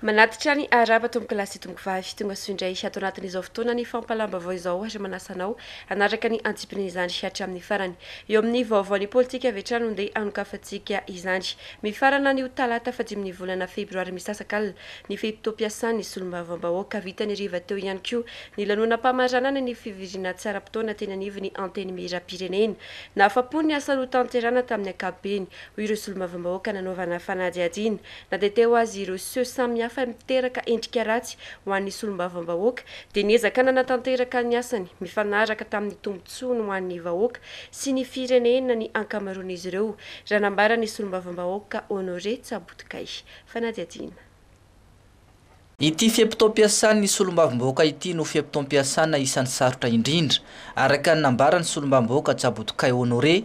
Manatitra ny arahaba tompokolahy sy tompokovavy. Tonga soa indray ato anatin'izao fotoana ny fampahalam-baovao izao ary manasa anao hanaraka ny antsipirian'izany hatramin'ny farany. Eo amin'ny vaovaon'ny politika avy hatrany no ndeha anokafantsika izany. Mifarana anio talata fahadimin'ny volana febroary misasaka alina ny fe-potoam-piasan'ny solombavambahoaka. Vita ny hariva teo ihany koa ny lanonam-pamaranana ny fivoriana tsaram-potoana teny anivon'ny Antenimierampirenena. Nahafapo ny asa notanterahina tamin'ny ankapobeny, hoy ireo solombavambahoaka nanaovana fanadihadiana. Na dia te ho azy ireo seho samihafa miteraka endrika ratsy ho an'ny solombavambahoaka dia niezaka nanatanteraka ny asany mifanaraka tamin'ny tombontsoany ho an'ny vahoaka sy ny firenena ny ankamaroan'izy ireo, raha nambaran'ny solombavambahoaka Honoré Tsabotokay. Fanadihadiana. Ity fe-potoam-piasan'ny solombavambahoaka ity no fe-potoam-piasana isan'ny sarotra indrindra, araka ny nambaran'ny solombavambahoaka Jabotokay Honoré,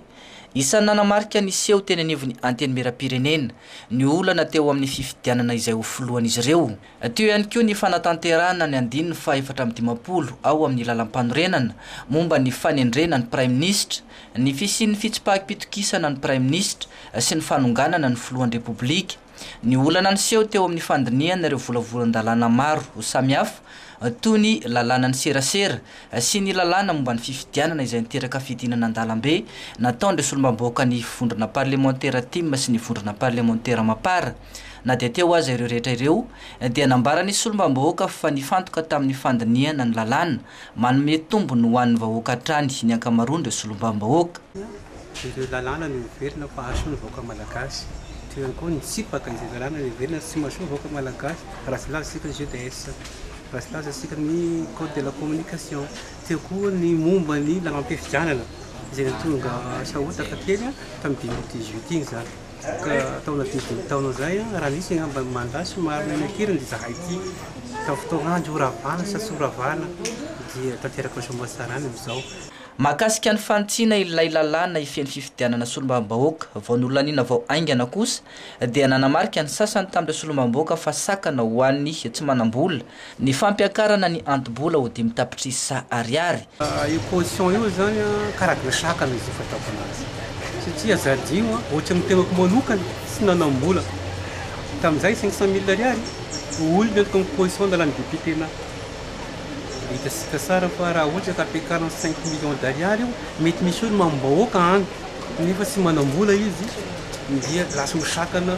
isan'ny nanamarika ny seho teny anivon'ny Antenimierampirenena, ny olana teo amin'ny fifidianana izay ho filohan'izy ireo. Teo ihany koa ny fanatanterahana ny andininy fahefatra amby dimampolo ao amin'ny Lalampanorenana momba ny fanendrena ny Praiminisitra, ny fisian'ny fitsipahim-pitokisana ny Praiminisitra sy ny fanonganana ny Filohan'ny Repoblika. Ny olana niseho teo amin'ny fandinihana ireo volavolan-dalàna maro samihafa, toy ny lalànan'ny serasera sy ny lalàna momba ny fifidianana izay niteraka fidinana an-dalambe nataon'ireo solombambahoaka ny Vondrona Parlemantera Tim sy ny Vondrona Parlemantera Mapar. Na dia teo aza ireo rehetra ireo, dia nambaran'ny solombambahoaka fa nifantoka tamin'ny fandinihana ny lalàna, Manome tombony ho an'ny vahoaka hatrany ny ankamaroan'ireo solombavambahoaka. Ireo lalàna no heverina fa hahasoa ny vahoaka malagasy. Toy ihany koa ny tsipaka izay lalàna heverina tsy mahasoa ny vahoaka malagasy raha tsy milaza isika ny JDS, raha tsy milaza isika ny Code de la communication. Teo koa ny momba ny lalàm-pifidianana izay nahatonga sahotaka kely tamin'ny deux mille dix-huit iny izany. ka taona dimy taona izay aho raha misy angamba ny mandat sy marina ny hirany dia izahay ity tamin'ny fotoana andro horavana sa tsy horavana dia tanteraka ny soamantsarana amin'izao. Mahakasika ny fanitsiana ilay lalàna hifehy ny fifidianana solombavambahoaka vao nolaniana vao haingana kosa dia nanamarika ny sasany tamin'ireo solombavambahoaka fa sakana ho an'ny tsy manam-bola Ny fampiakarana ny anto-bola ho dimy tapitrisa ariary. Io caution io zany an, karazana sakana izy io fataoko anazy satria azadiho an, ohatra ny tenako manokana tsy nanam-bola tamin'izay cinq cent mille ariary ho olona ny ataoko caution nalan'ny député na dia hitantsika tsara fa raha ohatra ka ampiakarina cinq millions d'ariary io mety misy eo ny mamim-bahoaka any nefa tsy manam-bola izy dia lasa misakana.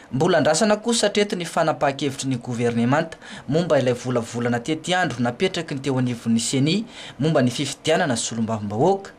Mbola andrasana kosa hatreto ny fanapahan-kevitry ny governemanta momba ilay volavolana tetiandro napetraky ny teo anivon'ny Ceni momba ny fifidianana solombavambahoaka.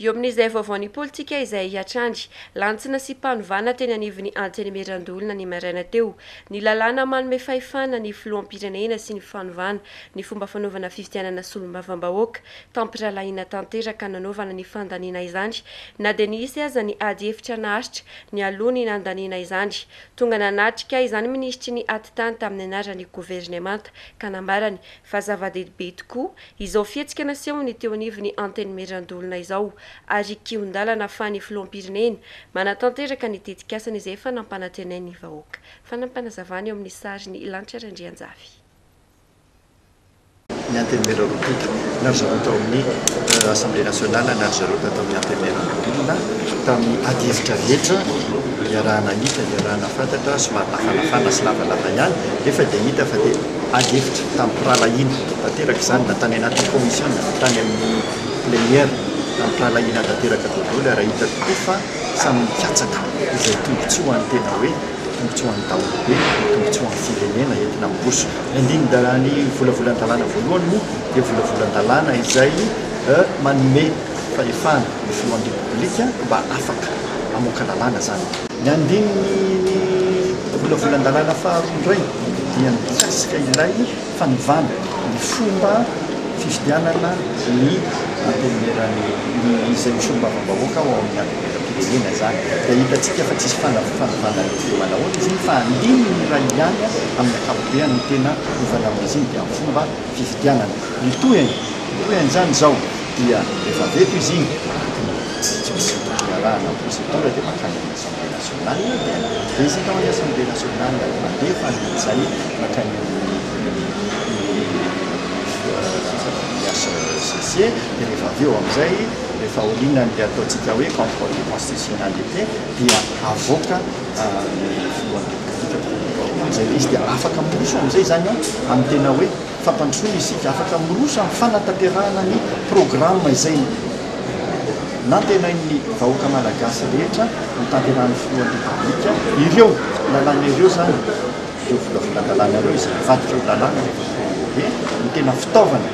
Eo amin'izay vaovaon'ny politika izay hatrany lantsina sy mpanovana teny anivon'ny Antenimierandoholona ny maraina teo, ny lalàna manome fahefana ny filoham-pirenena sy ny fanovana ny fomba fanaovana fifidianana solombavambahoaka, tampirahalahiana tanteraka nanaovana ny fandaniana izany na dia nisy aza ny ady hevitra naharitra Nialoha ny nandaniana izany, tonga nanatrika izany minisitry ny Atitany tamin'ny anaran'ny governemanta ka nambarany fa zava-dehibe tokoa izao fihetsika nasehon'ny teo anivon'ny Antenimierandoholona izao ary kihon-dalana fa ny Filoham-pirenena manatanteraka ny tetikasany izay efa nampanantenain'ny vahoaka. Fanampinazavana eo amin'ny sarin'i Lanitra Randrianjafy. ny Antenimiera Roapito na ry zareo tao amin'ny Assemblée Nationale na ry zareo tao amin'ny Antenimiera Ambodinina tamin'ny adihevitra rehetra iaraha-nahita, iaraha-nahafantatra, somary nafanafana sy lavalava ihany nefa dia hita fa dia adihevitra tamim-pirahalahiana tanteraka izany na tany anatin'ny Commission na tany amin'ny Plénière tamim-pirahalahiana tanteraka daholo ary hita tokoa fa samy nikatsaka izay tombotsoa ny tena hoe Tombotsoan'ny daholobe no tombotsoan'ny firenena entina miroso. Ny andinin-dalàn'ny volavolan-dalàna voalohany moa dia volavolan-dalàna izay manome fahefana ny filohan'ny Repoblika mba afaka mamoaka lalàna izany. Ny andininy volavolan-dalàna faharoa indray dia mikasika ilay. fanovana ny fomba fifidianana ny antenimieran'ny izay ho solombavambahoaka ao amin'ny antenimieram-pirenena izany dia hitantsika fa tsisy fanovana ny fomba anaovana izy iny fa andininy iray ihany amin'ny ankapobeny no tena hovana amin'izy iny dia ny fomba fifidianana ny tohiny ny tohiny izany izao dia rehefa avy eto izy iny tsy misy fiarahana amin'ny procédure dia mankany amin'ny assemblée nationale Marina dia betsaka ao ny Assemblée nationale mandefa ny jay mankany amin'ny HCC dia rehefa avy eo amin'izay rehefa aorianan'ilay ataontsika hoe contrôle de constitutionnalité dia avoaka ny filohan'ny repoblika dia amin'izay ilay izy dia afaka miroso amin'izay izany an amin'ny tena hoe fampandrosoana isika, afaka miroso amin'ny fanatanterahana ny programme izay Nantenain'ny vahoaka malagasy rehetra hotanterahin'ny filohan'ny Repoblika ireo lalàna ireo izany, ireo volavolan-dalàna ireo izay mivadika ho lalàna ny eto an-toerana dia no tena fitaovana,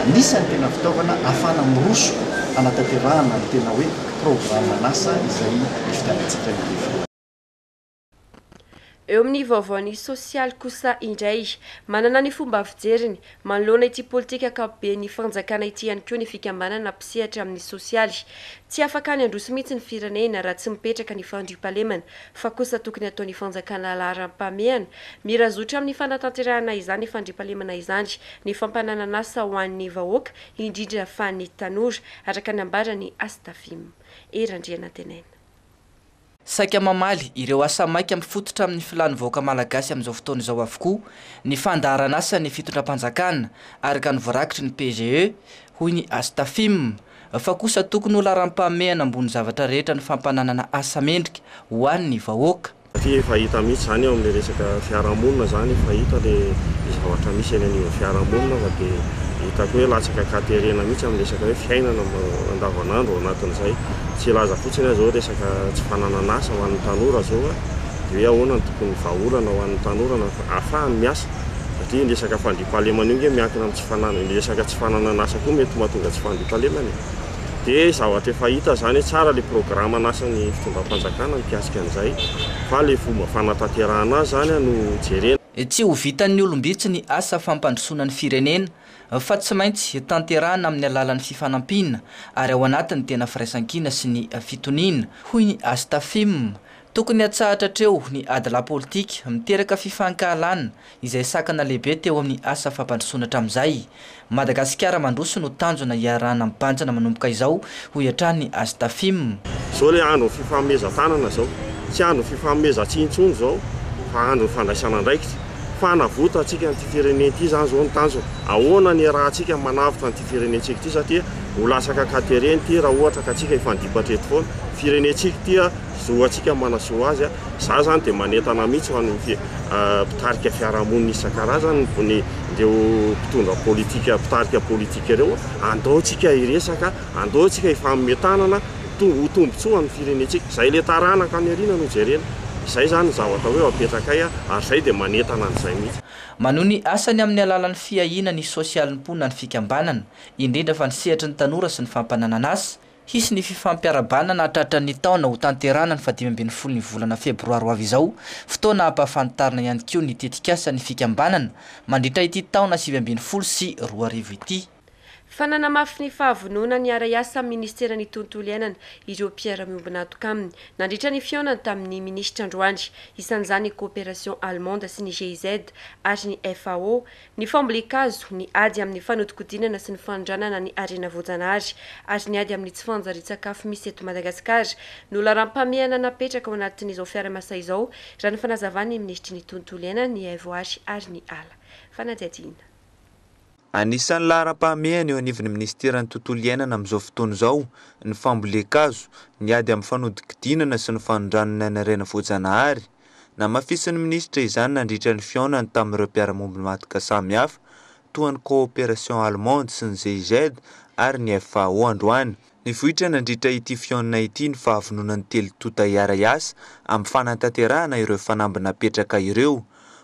anisan'ny tena fitaovana ahafahana miroso hanatanterahana ny tena hoe programan'asa izay ividianantsika ny rehefa. Eo amin'ny vaovao ny sosialy kosa indray. Manana ny fomba fijeriny manoloana ity politika ankapoben'ny fanjakana ity ihany koa ny fikambanana mpisehatra amin'ny sosialy. Tsy afaka any handroso mihitsy ny firenena raha tsy mipetraka ny fandriampahalemana fa kosa tokony ataon'ny fanjakana laharam-pahamehana mirazotra amin'ny fanatanterahana izany fandriampahalemana izany ny fampananan'asa ho an'ny vahoaka indrindra fa ny tanora, araka ny nambaran'i Astafim. Hery Andrianantenaina. Saika mamaly ireo asa maika mifototra amin'ny filàn'ny vahoaka malagasy amin'izao fotoana izao avokoa ny fandaharanasan'ny fitondram-panjakana araka ny voarakitry ny PGE, hoy ny Astafim, fa kosa tokony ho laharam-pahamehana ambony zavatra rehetra ny fampananana asa mendrika ho an'ny vahoaka. Satria efa hita mihitsy izany eo amin'ny resaka fiarahamonina izany, efa hita ilay zavatra misy eny anivon'ny fiarahamonina fa dia hitako hoe latsaka an-katerena mihitsy amin'ny resaka hoe fiainana andavanandro ao anatin'izay. Tsy hilaza fotsiny aho izao resaka tsy fananan'asa ho an'ny tanora izao aho, dia hoe ahoana no tokony vahaolana ho an'ny tanora na ahafahany miasa, satria iny resaka fandriampahalemana io ange miankina amin'ny tsy fananana, iny resaka tsy fananan'asa koa mety mahatonga tsy fandriampahalemana e! dia zavatra efa hita izany hoe tsara ilay programan'asan'ny fitondram-panjakana mikasika an'izay fa ilay fomba fanatanterahana azy izany no jerena. Tsy ho vitan'ny olom-bitsy ny asa fampandrosoana ny firenena fa tsy maintsy tanterahina amin'ny alalan'ny fifanampiana ary ao anatin'ny tena firaisankina sy ny fitoniana, hoy ny Astafim. Tokony hatsahatra hatreo ny adilahy politika miteraka fifankahalana izay sakana lehibe teo amin'ny asa fampandrosoana hatramin'izay. Madagasikara mandroso no tanjona iarahana mibanjina manomboka izao, hoy hatrany As Tafim. Izao ilay andron'ny fifanomezan-tanana izao. Tsy andron'ny fifanomezan-tsihy intsony izao fa andron'ny fandraisana andraikitra. Fanavotantsika an'ity firenena ity izany izao no tanjona. Ahoana no iarahantsika manavotra an'ity firenentsika ity satria ho latsaka an-katerena ity raha ohatra ka tsika hifandipatra eto foana. Firenentsika ity. Zoantsika manasoa azy. Za zany dia manentana mihitsy ho an'ny mpitarika fiarahamonina isan-karazany, ny ireo mpitondra politika, mpitarika politika ireo, andao tsika hiresaka, andao tsika hifanome tanana, to- ho tombontsoa ny firenentsika. Zay le taranaka any aoriana no jerena. Zay zany ny zavatra hoe apetrakay ary zay dia manentana an'izay mihitsy. Manohy ny asany amin'ny alalan'ny fiahiana ny sosialim-po na ny fikambanana, indrindra fa ny sehatry ny tanora sy ny fampananana asa, Hisy ny fifampiarahabana na tratra ny taona ho tanterahana ny fahadimy ambin'ny folo ny volana febroary ho avy izao, fotoana hampahafantarina ihany koa ny tetikasa ny fikambanana mandritra ity taona sivy ambin'ny folo sy roa arivo ity. Fa nanamafy ny fahavononany hiara-hiasa amin'ny Ministeran'ny Tontolo Iainana ireo mpiara-miombon'antoka aminy nandritra ny fihaonany tamin'ny Minisitra androany, isan'izany ny Coopération Allemande sy ny GIZ ary ny FAO, ny fambolen-kazo, ny ady amin'ny fanodinkodinana sy ny fanondranana ny harena voajanahary ary ny ady amin'ny tsy fanjarian-tsakafo misy eto Madagasikara no laharam-pahamehana napetraka ao anatin'izao Fiaramasay izao, raha ny fanazavan'ny minisitry ny Tontolo iainana, ny Haivoary ary ny ala. Fanadihadiana. Anisan'ny laharam-pahamehana eo anivon'ny minisiteran'ny Tontolo iainana amin'izao fotoana izao ny fambolen-kazo, ny ady amin'ny fanodinkodinana sy ny fanondranana ny harena voajanahary, Namafisin'ny minisitra izany nandritra ny fihaonany tamin'ireo mpiara-mombon'i Madka samy hafa, toa ny Coopération Allemande sy ny GIZ ary ny FAO androany. Nivoitra nandritra ity fihaonana ity ny fahavononan'ny telo tonta hiara-hiasa amin'ny fanatanterahana ireo fanamby napetraka ireo.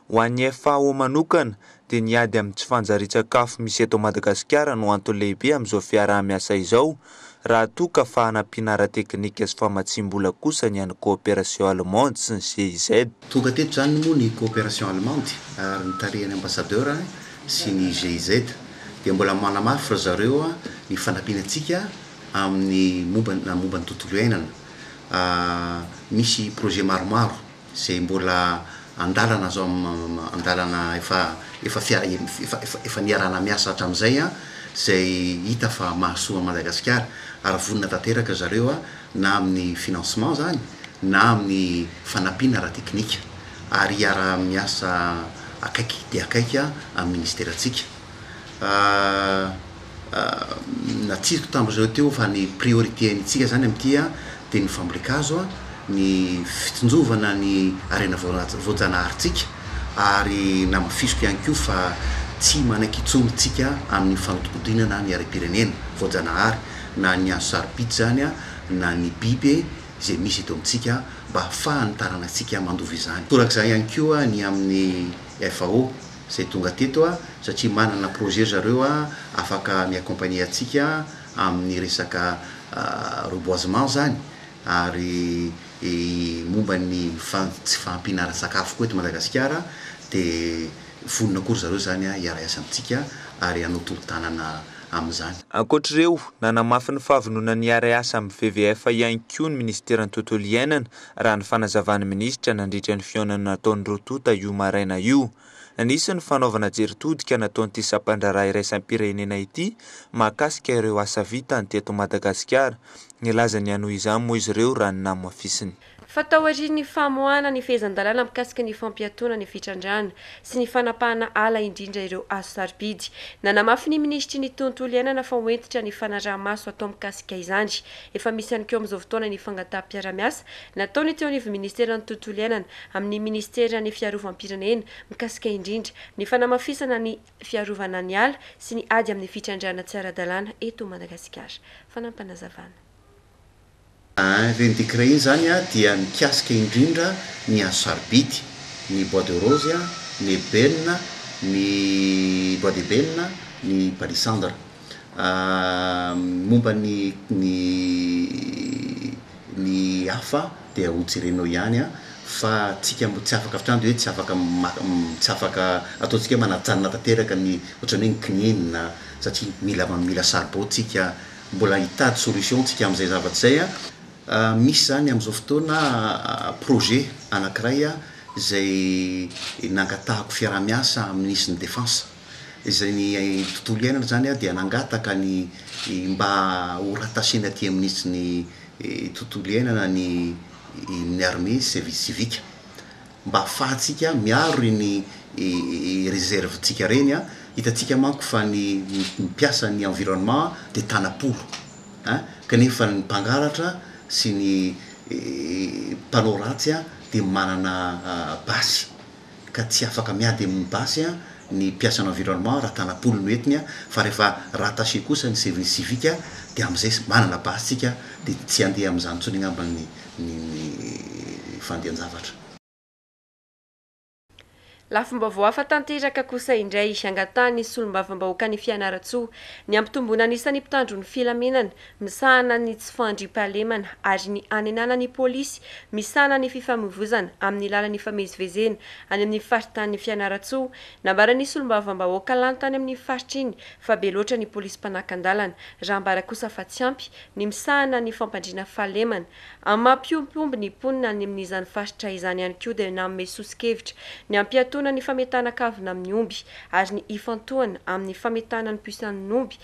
Ho an'ny FAO manokana, dia ny ady amin'ny tsy fanjarian-tsakafo misy eto Madagasikara no antony lehibe amin'izao fiaraha-miasa izao, raha toa ka fanampiana ara-teknika sy famatsiam-bola kosa ny an'ny Coopération Allemande sy ny GIZ. Tonga teto izany moa ny Coopération Allemande ary ny tarihan'ny Ambassadeur sy ny GIZ dia mbola manamafy ry zareo ny fanampiana antsika amin'ny momba momba ny tontolo iainana. Misy projet maromaro. izay mbola an-dalana zao an-dalana efa efa efa efa niarahana miasa hatramin'izay an, izay hita fa mahasoa an'i Madagasikara ary vonona tanteraka zareo na amin'ny financement zany na amin'ny fanampiana ara-teknika ary hiara-miasa akaiky dia akaiky amin'ny ministerantsika. natsiziko tamin-dry zareo teo fa ny priorité antsika izany amin'ity dia ny fambolen-kazo, ny fitsinjovana ny harena voajanaharintsika ary namafisiko ihany koa fa tsy manaiky intsony isika amin'ny fanodinkodinana ny harem-pirenena voajanahary na ny hazo sarobidy izany na ny biby izay misy eto amintsika mba ahafahan'ny taranatsika mandova izany. Torak'izany ihany koa ny amin'ny FAO. izay tonga teto a, satria manana projet ry zareo a, afaka mi-accompagner antsika amin'ny resaka reboisement izany, ary momba ny tsy fahampiana ara-tsakafo koa eto Madagasikara dia vonona koa ry zareo izany hiara-hiasa amintsika ary hanao tolo-tanana amin'izany. Ankoatr'ireo, nanamafy ny fahavononany hiara-hiasa amin'ny WWF ihany koa ny Minisiteran'ny Tontolo Iainana raha ny fanazavan'ny minisitra nandritra ny fihaonana nataony roa tonta io maraina io. Nisy ny fanaovana jery todika nataon'ity sampandraharaha iraisam-pirenena ity mahakasika ireo asa vitany teto Madagasikara. Nilaza ny hanohy izany moa izy ireo raha ny namafisiny. Fa taorian'ny famoahana ny fehezan-dalàna mikasika ny fampiatoana ny fitrandrahana sy ny fanapahana ala indrindra ireo hazo sarobidy, nanamafy ny minisitry ny Tontolo iainana fa ho hentitra ny fanaraha-maso atao mikasika izany Efa misy ihany koa amin'izao fotoana ny fangataham-piarahamiasa nataony teo anivon'ny ministeran'ny Tontolo iainana amin'ny ministeran'ny Fiarovam-pirenena mikasika indrindra ny fanamafisana ny fiarovana ny ala sy ny ady amin'ny fitrandrahana tsy ara-dalàna eto Madagasikara. Fanampinazavana. Ireny décret ireny izany dia mikasika indrindra ny hazo sarobidy, ny bois de rose, ny ebène, ny bois d'ébène, ny palissandre. Momba ny ny ny hafa dia ho jerenao ihany an! Fa tsika tsy afaka avy hatrany dia hoe tsy afaka tsy afaka ataontsika hoe manajanona tanteraka ny ohatran'ny hoe ny kininina satria mila mila saribao tsika mbola hitady solution tsika amin'izay zavatra izay an! Misy izany amin'izao fotoana projet anankiray izay nangatahako fiaraha-miasa amin'ny Minisitry ny Defense. izay ny tontolo iainana izany dia nangataka ny mba ho rattachena aty amin'ny minisitry ny tontolo iainana ny ny armée service civique mba afahantsika miaro ireny reserve ntsika ireny an, hitantsika manko fa ny mpiasa ny environnement dia tana-polo an, kanefa ny mpangalatra sy ny mpanao ratsy dia manana basy ka tsy afaka miady amin'ny basy ny mpiasan'ny environnement raha tanapolo no entiny fa rehefa rattacher kosa ny service civique dia amin'izay manana basy tsika dia tsy handeha amin'izany intsony angamba ny ny fandehan-javatra. Lafim-baovao hafa tanteraka kosa indray angatahan'ny solombavambahoaka ny Fianarantsoa ny hampitomboana ny isan'ny mpitandro ny filaminana misahana ny tsy fandriampahalemana ary ny hanenana ny polisy misahana ny fifamoivozana amin'ny lalan'ny fifamezivezena any amin'ny faritanin'i Fianarantsoa. Nambaran'ny solombavambahoaka lany tany amin'iny faritra iny fa be loatra ny polisy mpanakan-dalana raha ambara kosa fa tsy ampy ny misahana ny fampandriana fahalemana amin'ny maha mpiompiompy ny mponina any amin'izany faritra izany ihany koa dia nanome soso-kevitra ny hampiatoana ny fametahana kavina amin'ny omby ary ny hifantohana amin'ny fametahana ny puce an'ny omby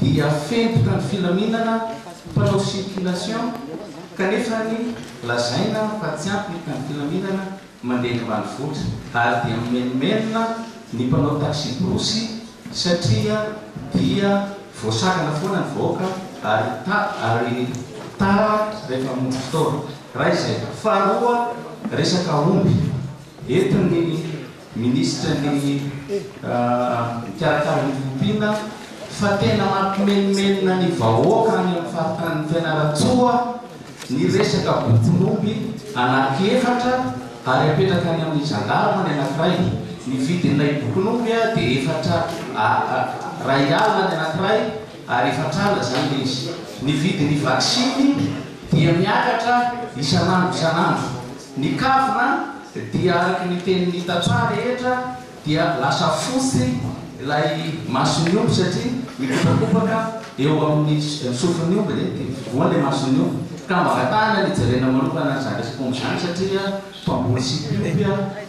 dia fentoka ny filaminana mpanao circulation kanefa ny lazaina fa tsy ampy ny filaminana mandeha eny ambanivohitra ary dia mimenomenona ny mpanao taxi-brousse satria dia voasakana foana ny vahoaka ary ary tara rehefa hamonjy fotoana. Iray izay. Faharoa resaka omby entin'ny. Minisitry ny Mikarakara ny Fiompiana fa tena mampimenomenona ny vahoaka any amin'ny faritanin'i Fianarantsoa ny resaka bokon'omby anaky efatra ary apetraka any amin'ny zandarma ny anakiray, ny vidin'ilay bokon'omby dia efatra Ray alina ny anakiray. ary fatrana izany izy. Ny vidin'ny vaksiny dia miakatra isan'andro isan'andro. Ny kavina dia araka ny tenin'ny tantsaha rehetra dia lasa fotsy ilay mason'ny omby satria mikopakopaka eo amin'ny sofin'ny omby ny voany ny mason'ny omby ka mba vatahana ny jerena manokana an'izany resak'omby izany satria mpamboly sy mpiompy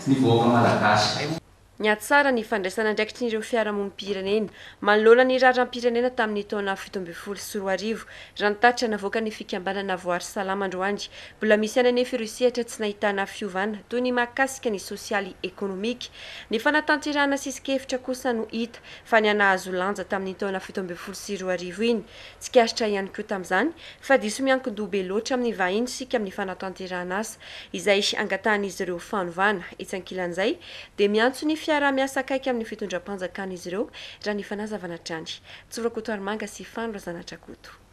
ny vahoaka malagasy. nihatsara ny fandraisan'andraikitrin'ireo fiarahamonim-pirenena manoloana ny raharam-pirenena tamin'ny taona fito ambin'ny folo sy roa arivo, raha ny tatitra navoakan'ny fikambanana Voary Salama androany. Mbola misy ihany anefa ireo sehatra tsy nahitana fiovana, toy ny mahakasika ny sosialy ekonomika. Ny fanatanterahana sisin-kevitra kosa no hita fa nihanahazo lanja tamin'iny taona fito ambin'ny folo sy roa arivo iny. Tsikaritra ihany koa tamin'izany fa diso miankin-doha be loatra amin'ny vahiny isika amin'ny fanatanterahana asa izay angatahan'izy ireo fanovana. Etsy ankilan'izay, dia miantso ny fiaraha-miasa akaiky amin'ny fitondram-panjakana izy ireo, raha ny fanazavana hatrany. Tsy Rakotoarimanga sy Fano Razanatrakoto.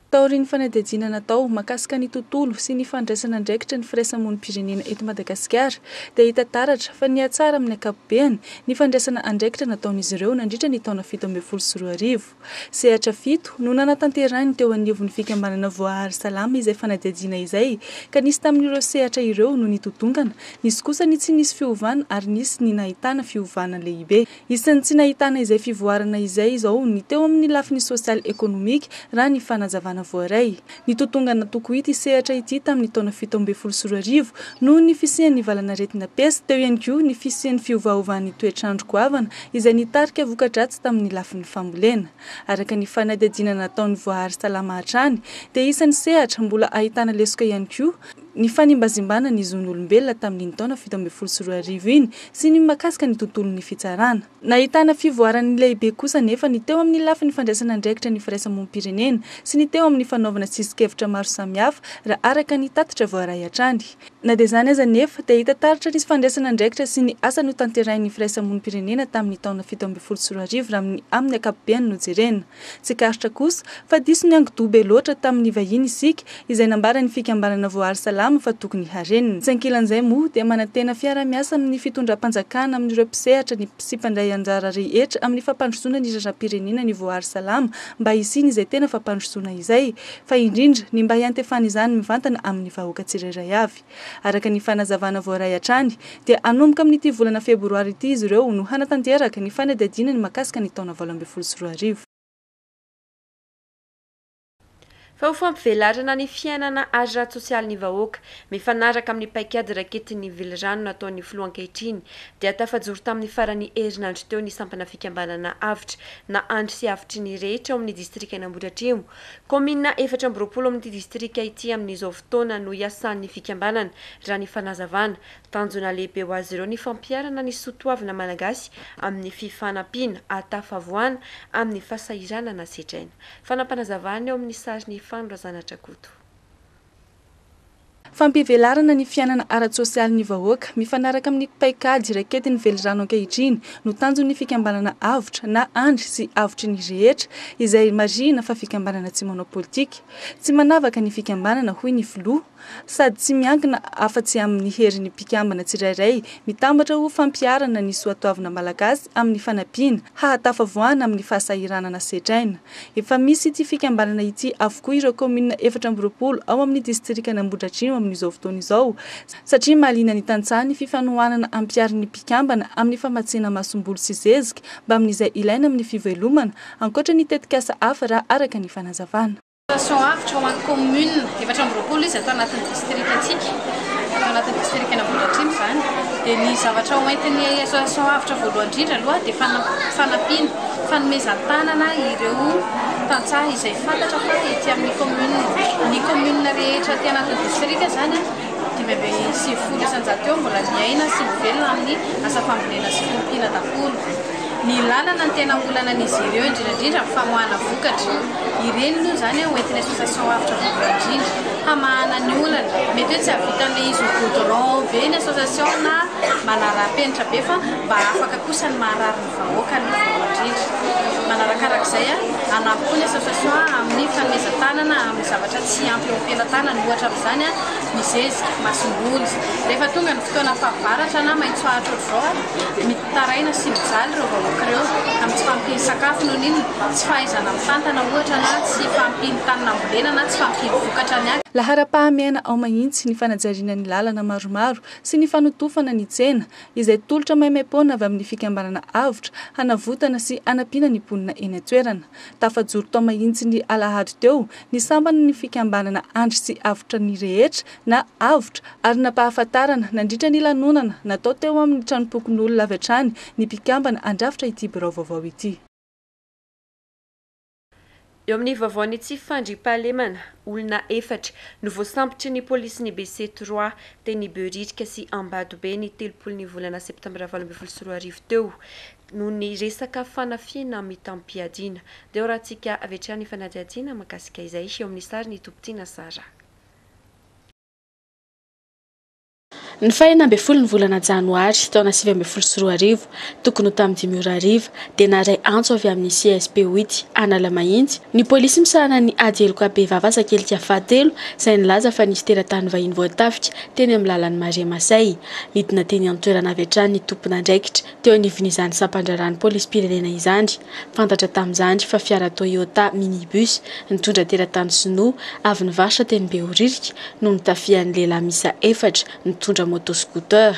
Taorian'ny fanadihadiana natao mahakasika ny tontolo sy ny fandraisan'andraikitra ny firaisamonim-pirenena eto Madagasikara dia hita taratra fa nihatsara amin'ny ankapobeny ny fandraisana andraikitra nataon'izy ireo nandritra ny taona fito ambin'ny folo sy roa arivo. Sehatra fito no nanatanterahiny teo anivon'ny fikambanana Voahary Salama izay fanadihadiana izay ka nisy tamin'ireo sehatra ireo no nitotongana, nisy kosa ny tsy nisy fiovana ary nisy ny nahitana fiovana lehibe. Isan'ny tsy nahitana izay fivoarana izay izao ny teo amin'ny lafiny sosialy ekonomika raha ny fanazavana voaray. Nitotongana tokoa ity sehatra ity tamin'ny taona fito ambin'ny folo sy roa arivo noho ny fisian'ny valanaretina pes, teo ihany koa ny fisian'ny fiovaovan'ny toetr'andro goavana izay nitarika voka-dratsy tamin'ny lafiny fambolena. Araka ny fanadihadiana nataon'ny Voahary Salama hatrany dia isan'ny sehatra mbola ahitana lesoka ihany koa ny fanimbazimbana ny zon'olombelona tamin'iny taona fito ambin'ny folo sy roa arivo iny sy ny makasika ny tontolon'ny fitsarana. Nahitana fivoarany lehibe kosa anefa ny teo amin'ny lafiny fandraisana andraikitra ny firaisamonim-pirenena sy ny teo amin'ny fanaovana tsisin-kevitra maro samihafa raha araka ny tatitra voaray hatrany. Na dia izany aza anefa dia hita taratra nisy fandraisana andraikitra sy ny asa notanterahin'ny firaisamonim-pirenena tamin'ny taona fito ambin'ny folo sy roa arivo raha amin'ny amin'ny ankapobeny no jerena. Tsikaritra kosa fa diso niankidoha be loatra tamin'ny vahiny isika izay nambaran'ny fikambanana Voaary Salama fa tokony harenina. Tsy ankilan'izay moa dia manantena fiara-miasa amin'ny fitondram-panjakana amin'ireo mpisehatra ny sy mpandray anjara rehetra amin'ny fampandrosoana ny raharaham-pirenena ny Voaary Salama mba hisiany izay tena fampandrosoana izay fa indrindra ny mba hiantefan'izany mivantana amin'ny vahoaka tsirairay avy. Araka ny fanazavana voaray hatrany dia hanomboka amin'ity volana febroary ity izy ireo no hanatanteraka ny fanadihadiana ny mahakasika ny taona valo ambin'ny folo sy roa arivo. Fa ho fampivelarana ny fiainana ara-tsosialy ny vahoaka, mifanaraka amin'ny paikady raketin'ny velirano nataon'ny filoha ankehitriny, dia tafajoro tamin'ny faran'ny herinandro teo ny sampana fikambanana Avotra na Andry sy Avotry ny rehetra ao amin'ny distrikan'Ambohidratrimo Kaominina efatra amby roapolo amin'ity distrika ity amin'izao fotoana no iasan'ny fikambanana, raha ny fanazavana. Tanjona lehibe ho azy ireo ny fampiharana ny soa toavina malagasy amin'ny fifanampiana ahatafavoana amin'ny fasahiranana sedraina. Fanapanazavana eo amin'ny sarin'i Fano Razanatrakoto. Fampivelarana ny fiainana ara-tsosialin'ny vahoaka, mifanaraka amin'ny paikady raiketin'ny velirano ankehitriny, no tanjon'ny fikambanana Avotra, na Andry sy Avotry ny rehetra, izay marihina fa fikambanana tsy manao politika. Tsy manavaka ny fikambanana, hoy ny filoha, sady tsy miankina afa-tsy amin'ny herin'ny mpikambana tsirairay, mitambatra ho fampiharana ny soatoavina malagasy amin'ny fanampiana hahatafavoahana amin'ny fahasahiranana setraina. Efa misy ity fikambanana ity avokoa ireo kaominina efatra amby roapolo ao amin'ny distrikan' Ambohidratrimo amin'izao fotoana izao satria mahaliana ny tantsaha ny fifanohanana ampiharin'ny mpikambana amin'ny famatsiana masomboly sy zezika mbamin'izay ilaina amin'ny fivelomana ankoatra ny tetikasa hafa raha araka ny fanazavana Dotation avotra ho an'ny kaominina efatra amby roapolo izy ato anatin'ny distrikantsika, ato anatin'ny distrikan' Ambohidratrimo izany, dia ny zavatra hoentin'ny association avotra voalohany indrindra aloha dia fanampiana, Fanomezan-tanana ireo tantsaha izay fantatra fa ety amin'ny kaominina, ny kaominina rehetra aty anatin'ny distrika izany, dimy amby sivifolo isan-jato eo mbola miaina sy mivelona amin'ny asa fambolena sy fiompiana daholo. Ny lalana no tena olanan'izy ireo indrindra indrindra ny famoahana vokatra. Ireny aloha izany ho entin'ny association avotra voalohany indrindra. Hamahana ny olana, mety hoe tsy hahavitan'ilay izy ho goudron be ny association na manara-penitra be fa mba afaka kosa ny maha rariny. vahoaka no voamarindra. Manarakaraka izay, anampy koa ny association amin'ny fanomezan-tanana amin'ny zavatra tsy ampy eo am-pelatanany, ohatra amin'izany ny zezika, masomboly. Rehefa tonga ny fotoana fahavaratra na maitsoahitra ohatr'izao, mitaraina sy mijaly ireo vahoaka ireo amin'ny tsy fahampian'ny sakafo noho ny inona, tsy fahaizana mitantana ohatra na tsy fahampian'ny tany nambolena na tsy fahampian'ny vokatra ny. Laharam-pahamehana ao mahintsy ny fanajariana ny lalana maromaro sy ny fanotofana ny tsena, izay tolotra maimaim-poana avy amin'ny fikambanana Avotra hanavotana sy hanampiana ny mponina eny an-toerana. Tafajoro tao Mahitsy ny alahady teo ny sampan'ny fikambanana Andry sy Avotra ny rehetra na Avotra ary nampahafantarana nandritra ny lanonana natao teo amin'ny tranompokonolona avy hatrany ny mpikambana handrafitra ity birao vaovao ity. Eo amin'ny vaovaon'ny tsy fandriampahalemana, olona efatra no voasambotry ny polisin'ny BC Trois, teny Behoririka sy Ambatobe ny telopolo ny volana septambra valo ambin'ny folo sy roa arivo teo, noho ny resaka fanafihana mitam-piadiana. Dia horahantsika avy hatrany ny fanadihadiana mahakasika izay, eo amin'ny sarin'i Tompitiana Sarah. Ny faha enina ambin'ny folo ny volana janoary taona sivy ambin'ny folo sy roa arivo, tokony ho tamin'ny dimy ora hariva, dia naharay antso avy amin'ny CSP Oity Analamahitsy ny polisy misahana ny ady heloka bevava asakelika fahatelo izay nilaza fa nisy teratany vahiny voatafika teny amin'ny lalan'i Maria Masay. Nidina teny an-toerana avy hatrany ny tompon'andraikitra Teo anivon'izany sampan-draharahan'ny polisim-pirenena izany. Fantatra tamin'izany fa fiara Toyota minibus nitondra teratany sinoa avy nivarotra teny Behoririka no notafihan'ny lehilahy miisa efatra nitondra moto scooter.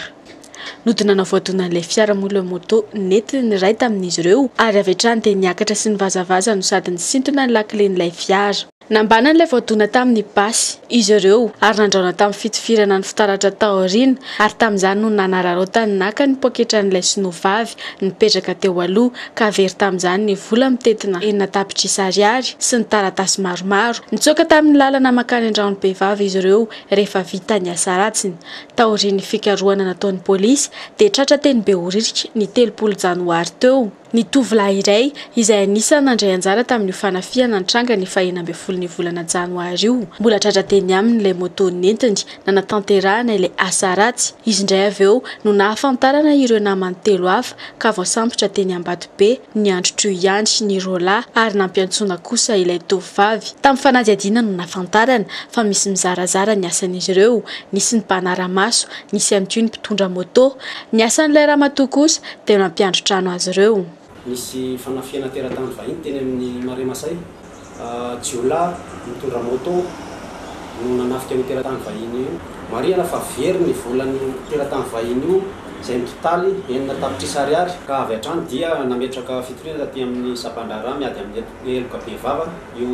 Nodonana voadonan'ilay fiara moa ilay moto nentin'ny iray tamin'izy ireo ary avy hatrany dia niakatra sy nivazavaza no sady nisintona ny lakilen'ilay fiara. Nambanan'ilay voadona tamin'ny basy izy ireo ary nandraona tamin'ny fitifirana ny fitaratra taoriana ary tamin'izany no nanararaotany naka ny poketran'ilay sinoa vavy nipetraka teo aloha ka very tamin'izany ny vola mitentina enina tapitrisa ariary sy ny taratasy maromaro. Nitsoaka tamin'ny lalana mankany an-draon'ny behivavy izy ireo rehefa vita ny asa ratsiny. Taorian'ny fikarohana nataon'ny polisy dia tratra teny Behoririka ny telopolo janoary teo. Ny tovolahy iray, izay anisan'ny nandray anjara tamin'io fanafihana nitranga ny fahenina ambin'ny folon'io volana janoary io, mbola tratra teny aminy ilay moto nentiny nanatanterahana ilay asa ratsy. Izy indray avy eo no nahafantarana ireo namany telo hafa ka voasambotra teny Ambatobe, ny androtr'io ihany, ny roa lahy ary nampiantsoana kosa ilay tovovavy. Tamin'ny fanadihadiana no nahafantarana fa misy mizarazara ny asan'izy ireo, nisy ny mpanara-maso, nisy ihany koa ny mpitondra moto. Ny asan'ilay ramatoa kosa dia nampiandry trano azy ireo. Nisy fanafihana teratany vahiny teny amin'ny Marais Masay. Jiolahy nitondra moto no nanafika an'io teratany vahiny io. Marihana fa very ny volan'io teratany vahiny io izay mitotaly enina tapitrisa ariary. Ka avy hatrany dia nametraka fitoriana taty amin'ny sampan-draharaha miady amin'ny heloka bevava io.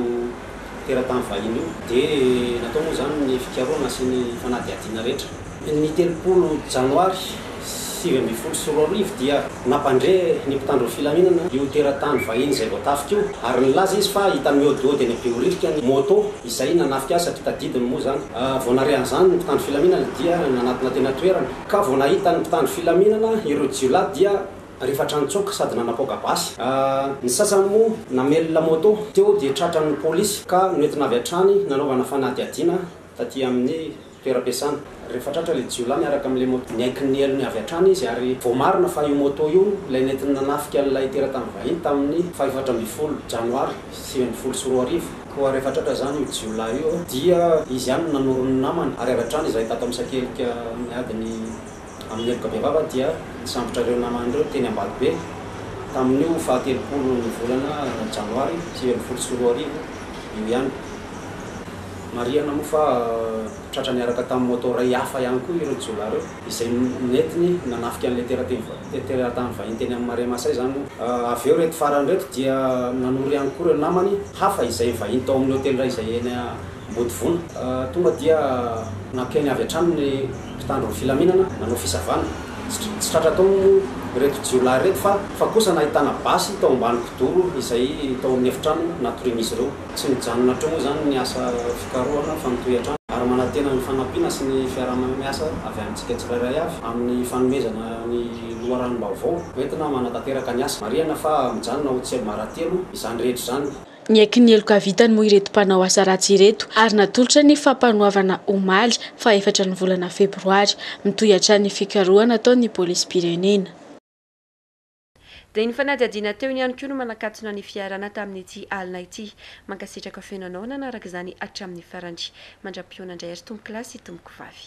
teratany vahiny io dia natao moa izany ny fikarohana sy ny fanadihadiana rehetra. Ny telopolo janoary sivy ambin'ny folo sy roa arivo dia nampandre ny mpitandro ny filaminana io teratany vahiny izay voatafika io ary nilaza izy fa hita mihodihody any Behoririka ny môtô izay nanafika azy satria tadidiny moa izany. Vao nare an'izany ny mpitandro filaminana dia nanatona teny an-toerana ka vao nahita ny mpitandro filaminana ireo jiolahy dia rehefa hatrany tsoka sady nanapoaka basy. Ny sasany moa namelona moto teo dia tratran'ny polisy ka noentina avy hatrany nanaovana fanadihadiana taty amin'ny toeram-piasana. Rehefa tratra ilay jiolahy miaraka amin'ilay moto, niaiky ny helony avy hatrany izy ary voamarina fa io moto io ilay nentiny nanafika an'ilay teratany vahiny tamin'ny fahefatra ambin'ny folo janoary sivy ambin'ny folo sy roa arivo. Koa rehefa tratra izany io jiolahy io dia izy ihany no nanoro ny namany ary avy hatrany izahay tato Amsakelika niady ny Amin'ny heloka bevava dia nisambotra ireo namany ireo teny Ambatobe, tamin'io faha telopolo ny volana janoary sivy ambin'ny folo sy roa arivo io ihany. Marihana moa fa tratra niaraka tamin'ny moto iray hafa ihany koa ireo jiolahy ireo, izay nentiny nanafika an'ilay terateny teratany vahiny teny amin'ny Marais Masay izany moa. Avy eo ireto farany ireto dia nanoro ihany koa ireo namany hafa izay vahiny tao amin'ny hotely iray izay eny Mody vono. Tonga dia nampiainy avy hatrany ny mpitandro ny filaminana nanao fisavana. Tsy tratra tao ireto jiolahy ireto fa fa kosa nahitana basy tao ambany kidoro izay tao amin'ny efitrano natorian'izy ireo. Tsy mijanona hatreo moa izany ny asa fikarohana fa mitohy hatrany ary manantena ny fanampiana sy ny fiaraha-miasa avy amintsika tsirairay avy amin'ny fanomezana ny loharanom-baovao hoentina manatanteraka ny asa. Marihana fa mijanona ho tsy maratelo izany rehetra izany. Niaiky ny heloka vitany moa ireto mpanao asa ratsy ireto ary natolotra ny fampanoavana omaly faha efatra ny volana febroary. Mitohy hatrany ny fikarohana ataon'ny polisim-pirenena. Dia ny fanadihadiana teo ihany koa no manakatona ny fiarahana tamin'ity alina ity. Mankasitraka feno anao nanaraka izany hatramin'ny farany. Mandra-pihaona indray ry tompokolahy sy tompokovavy.